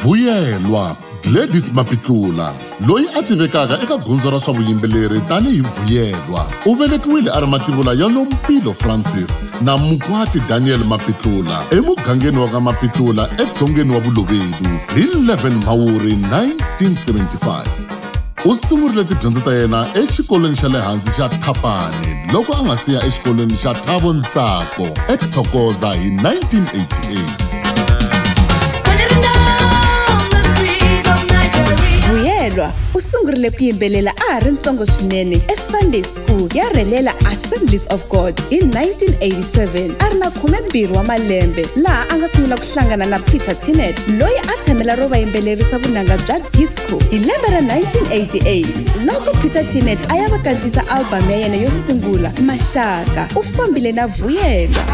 Vuyelwa Gladys Mapitlula loyi a tivekaka eka gondzo ra swa vuyimbeleri tanihi Vuyelwa u velekiwile a ri mativula ya Nompilo Francis na Mukwati Daniel Mapitlula emugangeni wa ka Mapitlula edzongeni wa Bolobedu hi 11 Mhawuri 1975. U sungurile tidyondzo ta yena exikolweni xa le hansi xa Thapane loko a nga si ya exikolweni xa Thabo Ntsako eThokoza hi 1988. Vuyelwa u sungurile ku yimbelela a ha ri ntsongo swinene eSunday School ya rhelela Assemblies of God hi 1987 a ri na khumembirhi wa malembe laha a nga sungula ku hlangana na Peter Tinnett loyi a tshamela ro va yimbelerisa vunanga bya disco ku hi lembe ra 1988 loko peter tinet a ya va kandziyisa albhamu ya yena yo sungula maxaka u fambile na vuyelwa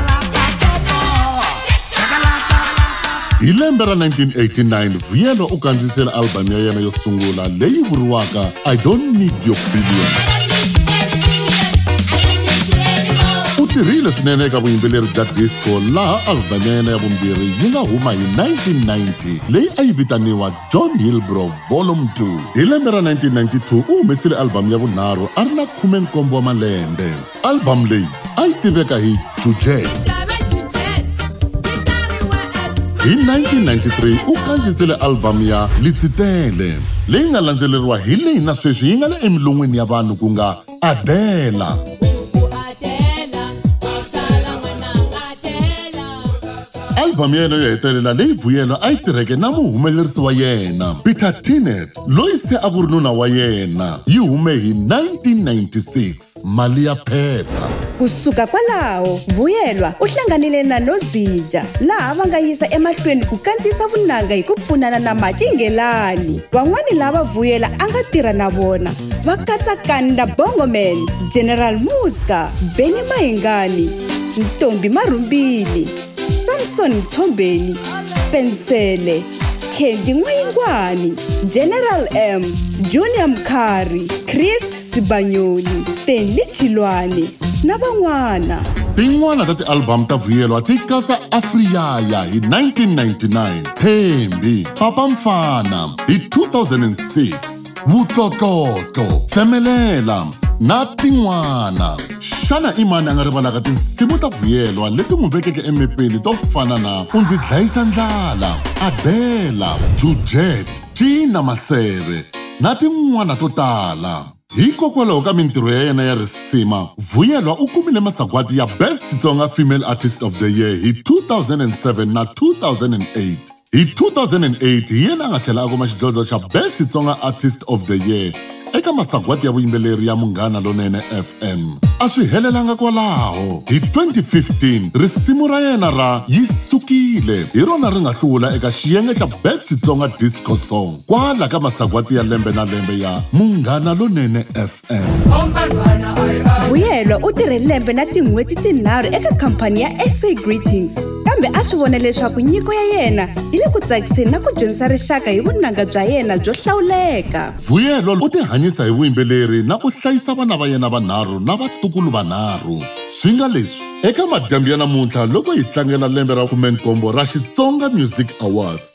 hi lembe ra 1989 vuyelwa u kandziyisela albhamu ya yena yo sungula leyi vuriwaka i don't need your billion u tirhile swinene eka vuyimbeleri bya disco laha albhamu ya yena ya vumbirhi yi nga huma hi 1990 leyi a yi vitaniwa John Hilbrow Volume 2. Hi lembe ra 1992 u humesile albhamu ya vunharhu a ri na 17 wa malembe. Albhamu leyi a yi tiveka hi Jujet. Hi 1993 u kandziyisile albhamu ya Litsitele, leyi nga landzeleriwa hi leyi na sweswi yi nga le emilon'weni ya vanhu ku nga Adela. albhamu ya yena yo hetelela leyi vuyelo a yi tirheke na muhumelerisi wa yena peter tinet loyi se a ku ri nuna wa yena yi hume hi 1996 mali ya phepha ku suka kwalaho vuyelwa u hlanganile na nozinja laha va nga yisa emahlweni ku kandziyisa vunanga hi ku pfunana na macingelani van'wani lava vuyela a nga tirha na vona va katsa kanda bongoman general muska beni mahingani ntombi marhumbini samson mthombeni pensele kendi n'wayingwani general m junior mkhari chris sibanyoni tenli chilwani na van'wana tin'wana ta tialbamu ta vuyelwa ti katsa afriyaya hi 1999 thembi papa mfana hi 2006 vutlotlotlotlo tsemelela na tin'wana xana i mani a nga rivalaka tinsimu ta vuyelwa leti n'wi vekeke emepeni to fana na u ndzi dlayisa ndlala adela jujet cina maseve na tin'wana to tala hikokwalaho ka mintirho ya yena ya risima vuyelwa u kumile masagwadi ya best xitsonga female artist of the year hi 2007 na 2008 Hi 2008 hi yena a nga tlhela a kuma xidlodlo xa Best Xitsonga Artist of the Year eka masagwati ya vuyimbeleri ya Munghana Lonene FM. A swi helelanga kwalaho, hi 2015 risimu ra yena ra Yi Sukile hi rona ri nga hlula eka xiyenge xa Best Xitsonga Disco Song kwala ka masagwati ya lembe na lembe ya Munghana Lonene FM. vuyelwa u tirhe lembe na tin'hweti tinharhu eka khampani ya sa greetings kambe a swi vona leswaku nyiko ya yena yi le ku tsakiseni na ku dyondzisa rixaka hi vunanga bya yena byo hlawuleka vuyelwa u tihanyisa hi vuyimbeleri na ku hlayisa vana va yena vanharhu na vatukulu vanharhu swi nga leswi eka madyambu ya namuntlha loko hi tlangela lembe ra 17 ra xitsonga music awards